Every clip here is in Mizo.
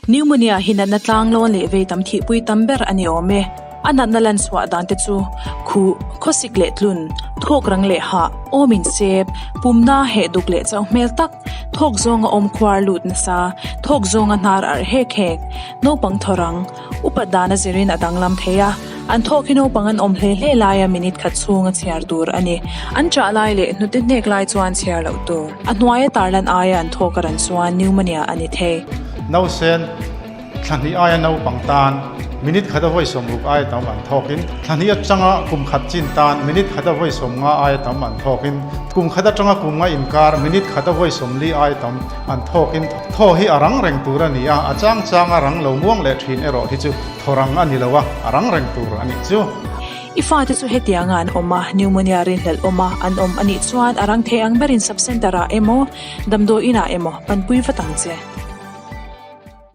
Pneumonia hi natna tlang lawn leh vei tam thihpui tam ber a ni awm e. A natna lanchhuah dante chu khuh, khawsik leh tlun, thawk rang leh hah, awm insep, pumna heh duk leh chauh hmel tak, thawk zawnga awm khuar lut nasa, thawk zawnga hnar arh hek hek, naupang thawrang, Upat dana zirin a danglam thei a, an thawk hi naupang an awm hle hle laia minute khat chhunga chhiar tur a ni. An chah lai leh hnute hnek lai chuan chhiar loh tur. A hnuaia tarlan aia an thawk a ran chuan pneumonia a ni thei. Nausen, thla hnih aia naupang tan minute khata vawi sawm ruk aia tam an thawkin, thla hnih atanga kum khat chin tan minute khata vawi sawm nga aia tam an thawkin, kum khat atanga kum nga inkar minute khata vawi sawm li aia tam, An thawkin thaw hi a rang reng tur a ni a, a chang changa rang lo muang leh ṭhin erawh hi chu thaw rang a ni lo a, a rang reng tur a nih chu. I fate chu hetianga an awm a, pneumonia rinhlelh awma an awm a nih chuan a rang thei ang berin subcentre-ah emaw, damdawiinah emaw panpui vat ang che.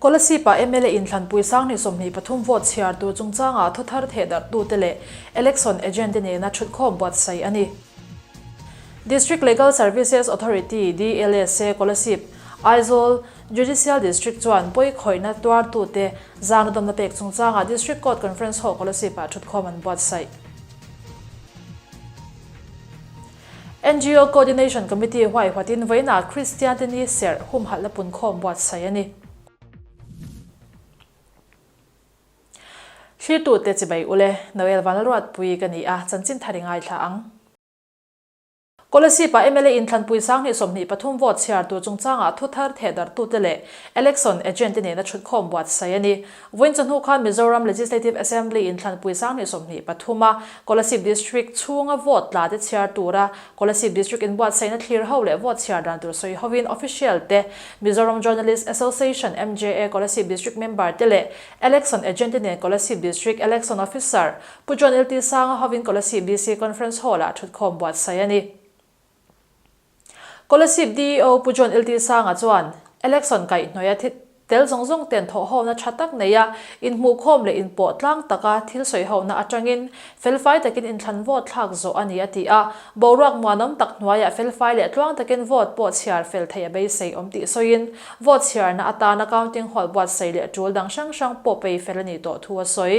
Kolasib-a mla inthlanpui sanghnih sawmhnih pathum vote chhiar tur chungchangah thawthar theh darhtute leh election agent-te nena ṭhutkhawm buatsaih a ni. District Legal Services Authority, DLSA, Kolasib, Aizawl, Judicial District chuan pawi khawihna tuartute zang la dawmna pek chungchangah District Court Conference Hall Kolasib-a ṭhutkhawm an buatsaih. NGO Coordination Committee huaihwatin vawiinah Kristian te ni serh humhalh la punkhawm buatsaih a ni. Hlirtute Chibai Ule, Noel Vanluatpuii ka ni a, chanchin thar i ngaithla ang. Kolasib-a mla inthlanpui sang hnih sawmhnih pathum vote chhiar tur chungchangah thuthar thehdarhtu te leh election agent te nena chhut khawm buatsaih a ni. Vawin chawhnu kha Mizoram Legislative Assembly in Thlanpui Sang ni sawmhnih pathum a Kolasib District chhunga vote tla te chhiar tura Kolasib District in buatsaih na thlir ho leh vote chhiar dan tur sawi hovin official te, Mizoram Journalist Association, MJA, Kolasib District member te leh Election Agent te nen Kolasib District Election Officer Pu John Iltisanga hovin Kolasib DC Conference Hall ah thutkhawm buatsaih a ni. Kolasib DEO Pu John Iltisanga chuan election kaih hnawia thil tel zawng zawng ten thawhhona tha tak neia inhmuhkhawm leh inpawh tlang taka thil sawihona atangin felfai takin inthlan vote thlak zawh a ni a ti a. Boruak muanawm tak hnuaiah felfai leh tluang takin vote pawh chhiar fel theih a beisei awm tih sawiin vote chhiarna atana counting hall buatsei leh tul dang hrang hrang pawh pei fel a ni tawh thu a sawi.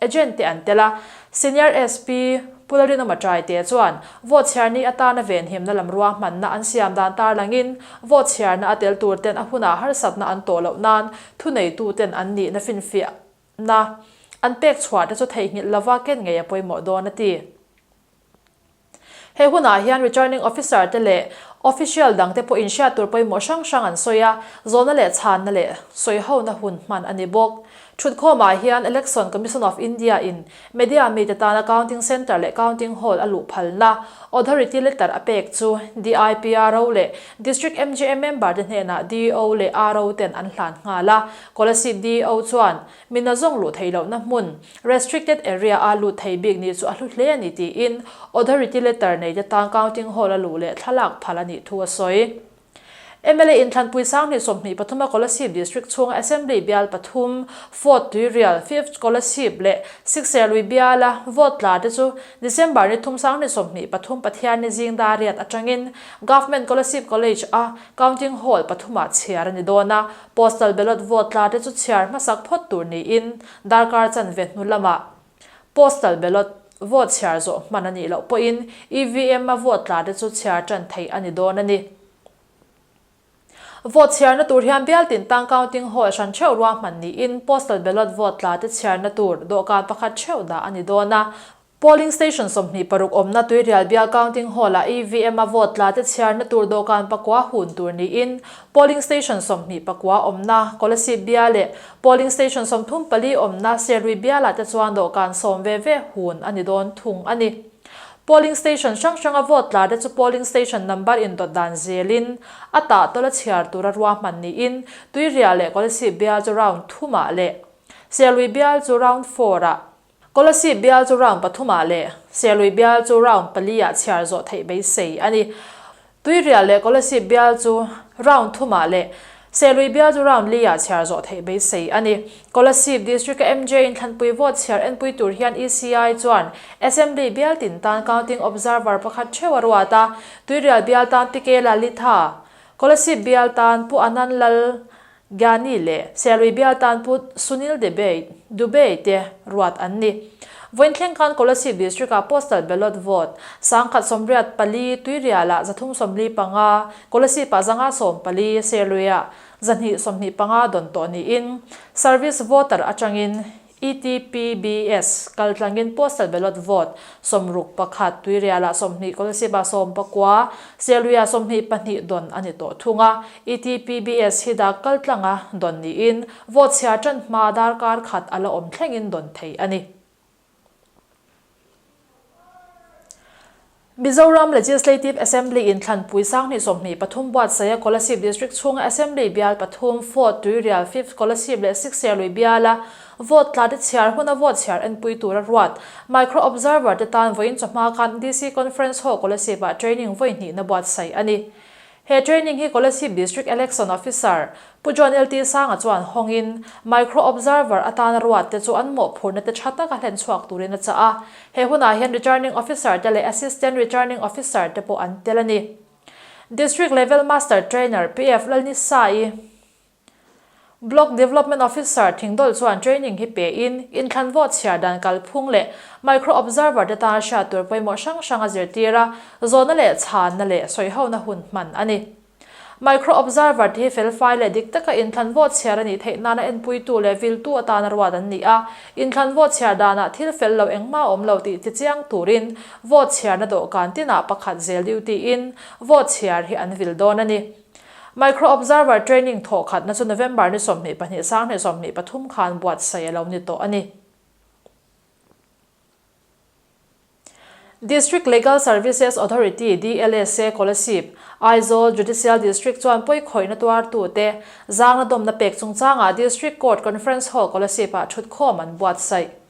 Agent te an tel a, Senior SP Pularinoma Trai te chuan vote chhiar ni atana ve nhiamna lam ruang hmanna an siam dan tar langin vote chhiarna a tel tur ten a hmunah harsatna an tawh loh nan thuneitu ten an nihna finfiah na an pek chhuah te chu theihnghilh lova ken ngei a pawimawh dawn a ti. He hunah hian Returning Officer te leh Official dang te pawhin hriat tur pawimawh hrang hrang an sawi a, zawhna leh chhanna leh sawi hona hun hman a ni bawk. Thutkhawmah hian Election Commission of India in media mi te tana Counting Centre leh Counting Hall a luh phalna Authority letter a pek chu DIPRO leh District MGM member te hnenah DO leh RO ten an hlan nghal a, Kolasib DO chuan Mina zawng luh thei lohna hmun, Restricted Area, a lut thei bik ni chu a hlu hle a ni tiin Authority Letter nei te tan Counting Hall a luh leh thla lak phal a nih thu a sawi. Mla in Thlanpui Sanghnih sawmhnih pathuma Kolasib District chhunga Assembly bial pathum Vote tuirial fifth Kolasib leh Sixth Serlui biala Vote tla te chu December ni thum Sanghnih sawmhnih pathum pathian ni zing dariat atangin Government Kolasib College a Counting Hall pathumah chhiar a ni dawn a, Postal ballot vote tla te chu chhiar hmasak phawt tur niin darkar chan ve hnu lama Postal ballot vote chhiar zawh hman a nih loh pawhin EVM a vote tla te chu chhiar tan thei a ni dawn a ni. Vote chhiarna tur hian Bialtintang Counting Hall hran theuh ruahman niin Postal ballot vote tla te chhiarna tur dawhkan pakhat theuh dah a ni dawn a. Polling station sawmhnih paruk awmna Tuirial Bial Counting Hall ah EVM-a vote tlate chhiarna tur dawhkan pakua hun tur niin polling station sawmhnih pakua awmna Kolasib Bial leh polling station sawmthum pali awmna Serui Bial ah te chuan dawhkan sawm ve ve hun a ni dawn thung a ni. Polling station hrang hranga vote tlate chu polling station number indawt dan zelin a tah tawlh a chhiar tura ruahman niin Tuirial leh Kolasib Bial chu round thum ah leh Serui Bial chu round four ah Scholarship bial chu round pathumah leh serlui bial chu round paliah chhiar zawh theih beisei a ni. Tuihrial leh scholarship bial chu round thumah leh serlui bial chu round liah chhiar zawh theih beisei a ni. Scholarship District a MJ in thlanpui vote chhiar enpui tur hian ECI chuan Assembly bial tin tan Counting Observer pakhat theu a ruat a, tuihrial bial tan Pikela Litha, scholarship bial tan Pu Ananlal Gyani leh Selribia tan put Sunil Debate, Dubey, te ruat an ni. Vawiin thlengkan Kolasib District-a Postal Ballot Vote, Sangkhat sawmriat pali Tuiriala za thum sawmli panga, Kolasib-a za nga sawm pali, Serluia za hnih sawmhnih panga dawn tawh niin Service Voter atangin ETPBS, kal tlangin postal ballot vote, sawmruk pakhat, Tuiriala sawmhnih Kolesiba sawm pakua, Sialuia sawmhnih pahnih dawn a ni tawh thung a, ETPBS hi dak kal tlanga dawn niin vote chhiar ṭan hma darkar khat a la awm thlengin dawn thei a ni. Mizoram Legislative Assembly in Thlanpui Sanghnih Sawmhnih pathum buat Saya Kolasib District chhunga Assembly bial pathum fourth Tuirial fifth Kolasib leh sixth Serlui biala vote tlate chhiar huna vote chhiar enpui tura ruat Micro Observer te tan vawiin chawhma kan DC Conference Hall Kolasib ah training vawihnihna buat sai ani. He training hi Kolasib District Election Officer, Pu John LT Sanga chuan hawngin Micro Observer atana ruatte chu an mawhphurhna te tha taka hlen chhuak turin a chah a. He hunah hian Returning Officer te leh Assistant Returning Officer te pawh an tel a ni. District Level Master Trainer, PF, Lalnisa i. Block Development Officer thingdawlh chuan training hi pein inthlanvawt chhiar dan kalphung leh micro observer te tan hriat tur pawimawh hrang hrang a zirtir a, zawhna leh chhanna leh sawihona hun hman a ni. Micro observer te hi felfai leh dik taka inthlanvawt chhiar a nih theih nana enpuitu leh viltu atan a ruat an ni a, inthlanvawt chhiar danah thil fel lo engmah a awm lo tih tichiang turin vawt chhiarna dawhkan tinah pakhat zel duty-in vawt chhiar hi an vil dawn a ni. Micro Observer Training thawh khatna chu November ni sawmhnih pahnih sanghnih sawmhnih pathum khan buatsaih a lo ni tawh a ni. District Legal Services Authority, DLSA, Kolasib, Aizawl Judicial District chuan pawi khawihna tuar tu te zangna dawmna pek chungchangah District Court Conference Hall Kolasib ah thutkhawm an buatsaih.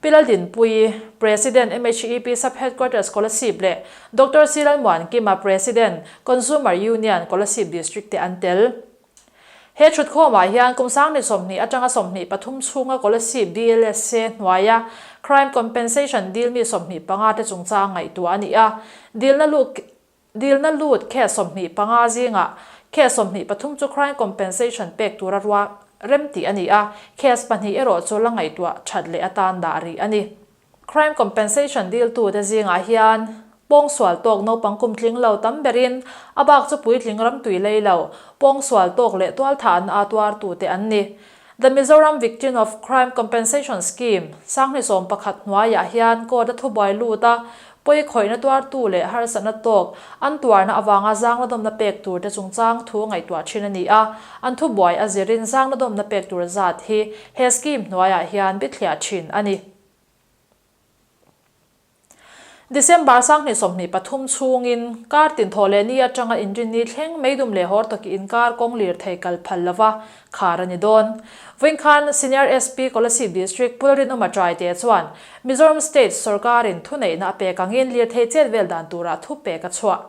Pilal Din Pui, President, MHEP Sub Headquarter Scholarship leh Doctor Siral Muan Kima, President, Consumer Union Kolasib District te an tel. He thutkhawmah hian kum sang ni sawmhnih atanga sawmhnih pathum chhunga Kolasib DLSA hnuaia Crime Compensation dilmi sawmhnih panga te chungchang ngaihtuah a ni a, dilna luh Dilna lut khe sawmhnih panga zingah khe sawmhnih pathum chu crime compensation pek tura rua rem tih a ni a, case pahnih erawh chu la ngaihtuah that leh atan dah rih a ni. Crime compensation diltute zingah hian pawng sual tawk naupang kum tling lo tam berin a bak chu puitling ramtui lei lo, pawng sual tawk leh tualtha an aa tuar tute an ni. The Mizoram Victim of Crime Compensation Scheme, Sanghni sawm pakhat hnuaiah hian court-a thubuai lut a, pawi khawihna tuartu leh harsatna tawk an tuarna avanga zang ladawmna pek tur te chungchang thu a ngaihtuah thin a ni a, an thubuai a zirin zang ladawmna pek tur zat hi he scheme hnuaiah hian bithliah thin a ni. December sang hnih sawmhnih pathum chhungin kar tinthawh leh ni atanga inrin ni thleng mai dum leh hawr tak in kar kawng lir thei kal phal lova khar a ni dawn. Vawiin khan Senior SP Kolasib District Pul Rinawm a try te chuan Mizoram State sorkarin thuneihna a pek angin lirthei chet vel dan tura thupek a chhuah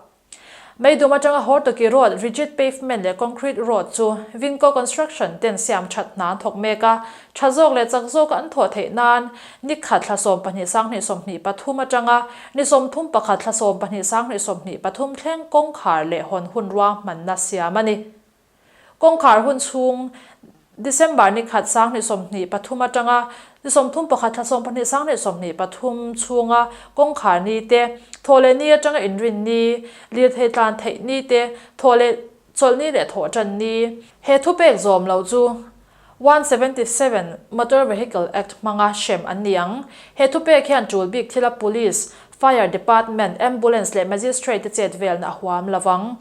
Meidum atanga Hawrtaki Road Rigid Pavement leh Concrete Road chu Vinco Construction ten siam that hna an thawk mek a, tha zawk leh chak zawka an thawh theih nan nikhat thla sawm pahnih sang hnih sawmhnih pathum atanga ni sawmthum pakhat thla sawm pahnih sang hnih sawmhnih pathum thleng kawngkhar leh hawn hun ruang hmanna siam a ni. Kawngkhar hun chhung December ni khat sang hnih sawm hnih pathum atanga ni sawm thum pakhat thla sawm pahnih sang hnih sawm hnih pathum chhunga kawngkhar ni te, thaw leh ni atanga inrin ni, lirthei tlan theih ni te, thaw leh chawlh ni leh thawh tan ni, he thupek zawm lo chu One seventy seven, Motor Vehicle Act hmanga hrem an ni ang. He thupek hian tul bik thila Police, Fire Department, Ambulance leh Magistrate te chet velna a huam lo vang.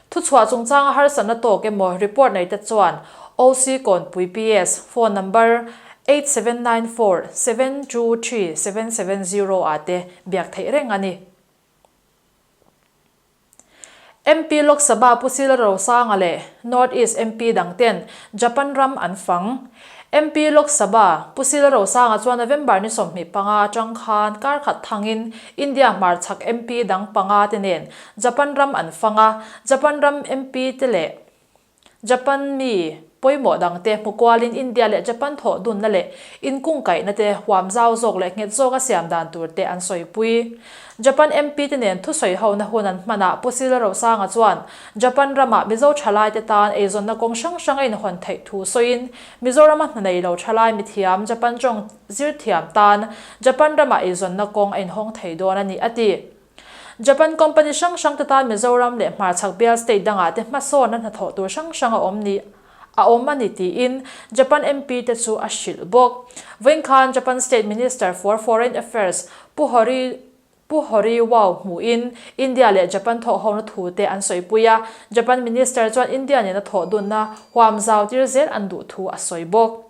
Thuchhuah chungchanga harsatna tawk emaw report nei te chuan OC Kawnpui PS, phone number eight seven nine four seven two three seven seven zero ah te biak theih reng a ni. MP Lok Sabha Pu Silrosanga leh North East MP dang ten Japan ram an fang. MP Lok Sabha Pu Silrosanga chuan November ni sawmhnih panga atang khan kar khat thangin India hmarchhak MP dang panga te nen Japan ram an fang a, Japan ram MP te leh Japan mi pawimawh dangte hmu kualin India leh Japan thawh dunna leh inkung kaihna te huam zau zawk leh nghet zawk a siam dan tur te an sawipui. Japan MP te nen thusawi hona hun an hman a Pu Sila Rosanga chuan Japan rama Mizo thalai te tan eizawnna kawng hrang hrang a inhawn theih thu sawiin Mizorama hna nei lo thalai mithiam Japan tawng zir thiam tan Japan rama eizawnna kawng a inhawng thei dawn a ni a ti. Japan company hrang hrang te tan Mizoram leh Hmarchhak bial state dangah te hmasawn a hnathawh tur hrang hrang a awm ni a awm a ni tiin Japan MP te chu a hrilh bawk. Vawiin khan Japan State Minister for Foreign Affairs Pu Hori Pu Horiwao hmuhin India leh Japan thawh hona thu te an sawipui a. Japan Minister chuan India nena thawhdunna huam zau tir zel an duh thu a sawi bawk.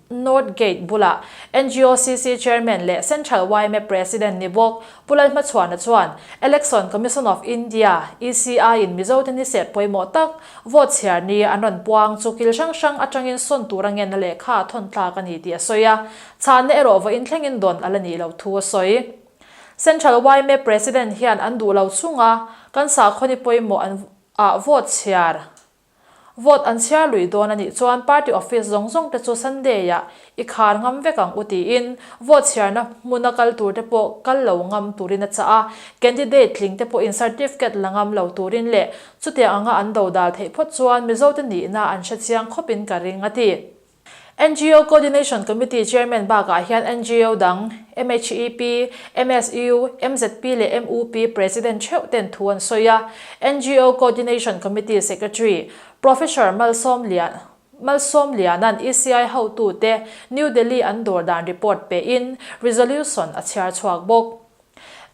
North Gate bula NGOCC Chairman leh Central YMAP President ni bawk Pu Lalhmachhuana chuan Election Commission of India, ECI, in Mizote ni sep pawimawh tak vote chhiar ni an rawn puang chu kil hrang hrang atangin sawn tura ngenna leh kha a thawn tlak a ni tih a sawi a. Chhahna erawh vawiin thlengin dawn a la nih loh thu a sawi. Central YMAP President hian an duh lo chunga kan sakhaw ni pawimawh an ah vote chhiar, Vote an chhiar luih dawn a nih chuan party office zawng zawng te chu Sunday-ah i khar ngam vek ang u tiin vote chhiarna hmuna kal tur te pawh kal lo ngam turin a chah a, candidate tling te pawhin certificate la ngam lo turin leh chutiang anga an do dal theih phawt chuan Mizote nihna an hrechiang khawpin ka ring a ti. NGO Coordination Committee Chairman bakah hian NGO dang, MHEP, MSU, MZP leh MUP President theuh ten thu an sawi a, NGO Coordination Committee Secretary, Professor Malsawmlian Malsawmliana'n ECI hotute New Delhi an dawr dan report pehin resolution a chhiar chhuak bawk.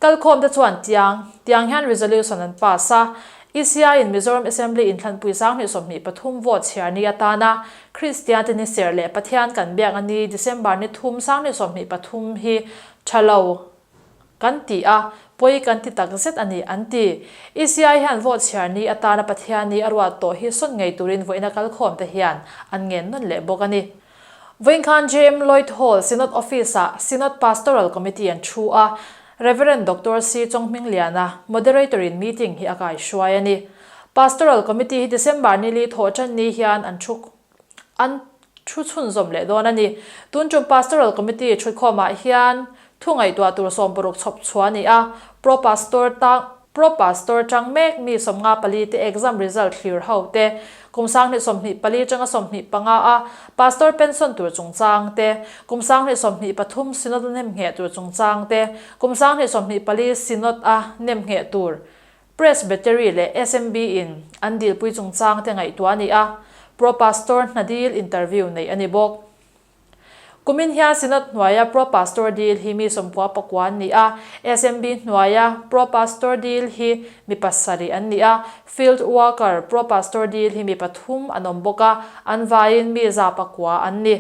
Kal khawm te chuan tiang tiang hian resolution an pass a, ECI-in Mizoram Assembly in thlanpui sang hnih sawmhnih pathum vote chhiar ni atana Kristian te ni serh leh Pathian kan biak a ni December ni thum sang hnih sawmhnih pathum hi tha lo kan ti a, pawi kan ti tak zet a ni an ti. ECI hian vote chhiar ni atana Pathian ni a ruat tawh hi sawn ngei turin vawiina kal khawm te hian an ngen nawn leh bawk a ni. Vawinkhanh JM Lloyd Hall Synod Office-ah Synod Pastoral Committee an thu a, Rev. Doctor Sri Chawng Hming Liana Moderator-in meeting hi a kaihruai a ni. Pastoral Committee hi December ni li thawh ṭan ni hian an thu an thu chhunzawm leh dawn a ni. Tun ṭum Pastoral Committee ṭhutkhawmah hian Thungaihtuah tur sawm paruk chhawp chhuah a ni a, Pro Pastor tang, Pro Pastor tang mek mi sawmnga pali te exam result thlir ho te, kum sanghnih sawmhnih pali tanga sawmhnih panga a Pastor pension tur chungchang te, kum sanghnih sawmhnih pathum Synod a nem ngheh tur chungchang te, kum sanghnih sawmhnih pali Synod a nem ngheh tur Presbytery leh SMB in an dilpui chungchang te ngaihtuah a ni a, Pro Pastor hnadil interview neih a ni bawk. Kumin hian Synod hnuaia Pro-Pastor Dil hi mi sawmkua pakua an ni a, SMB hnuaia Pro-Pastor Dil hi mi pasarih an ni a, Field Worker Pro-Pastor Dil hi mi pathum an awm bawk a, an vaiin mi za pakua an ni.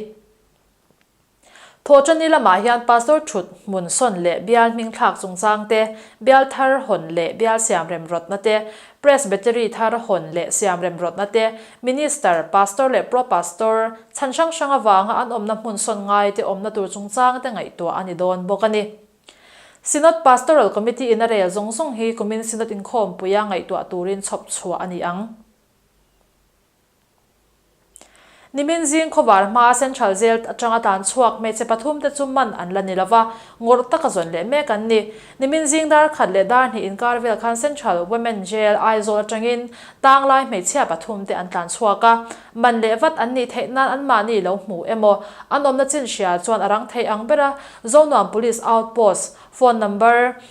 Thawhṭani lamah hian Pastor ṭhut hmun sawn leh bial hmingthlak chungchangte, bial thar hawn leh bial siam remrawtnate, Presbytery thar a hawn leh siam remrawtna te, Minister, Pastor leh Pro-Pastor, chhan hrang hrang avanga an awmna hmun sawn ngai te awmna tur chungchang te ngaihtuah a ni dawn bawk a ni. Synod Pastoral Committee in a rel zawng zawng hi kumin Synod inkhawmpuia ngaihtuah turin chhawpchhuah a ni ang. Nimin zing khawvar hmaa Central Jail atanga tlan chhuak hmeichhe pathum te chu man an la ni lo va, ngawrh taka zawn leh mek an ni. Nimin zing darkhat leh darhnih inkar vel khan Central Women Jail, Aizawl atangin tang lai hmeichhia pathum te an tlan chhuak a, man leh vat an nih theih nan an mahni lo hmuh emaw, an awmna chinhria chuan a rang thei ang ber a, Zonuam Police Outpost phone number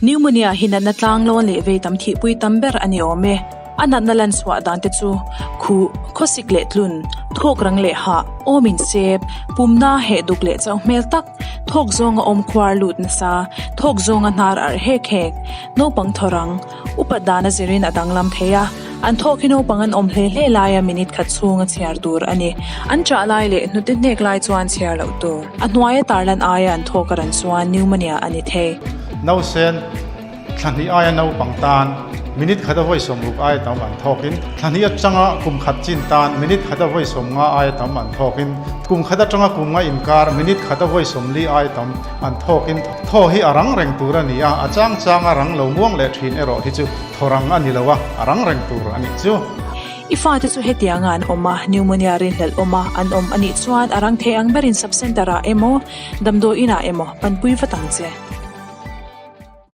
Pneumonia hi natna tlanglawn leh vei tam thihpui tam ber a ni awm e. A natna lan suah dante chu khuh, khawsik leh tlun, thawk rang leh hah, awm insep, pumna heh duk leh chauh hmel tak, thawk zawnga awm khuar lut nasa, thawk zawnga hnar arh hek hek, naupang thaw rang, Upat dana zirin a danglam thei a, an thawk hi naupang an awm hle hle laia minute khat chhunga chhiar tur a ni. An chah lai leh hnute hnek lai chuan chhiar loh tur. A hnuaia tarlan aia an thawk a ran chuan pneumonia a ni thei. Nausen, thla hnih aia naupang tan minute khata vawi sawm ruk aia tam an thawkin, thla hnih atanga kum khat chin tan minute khata vawi sawm nga aia tam an thawkin, kum khat atanga kum nga inkar minute khata vawi sawm li aia tam, An thawkin thaw hi a rang reng tur a ni a, a chang changa rang lo muang leh ṭhin erawh hi chu thaw rang a ni lo a, a rang reng tur a nih chu. I fate chu hetianga an awm a, pneumonia rinhlelh awma an awm a nih chuan a rang thei ang berin sub-centre-ah emaw, damdawiinah emaw panpui vat ang che.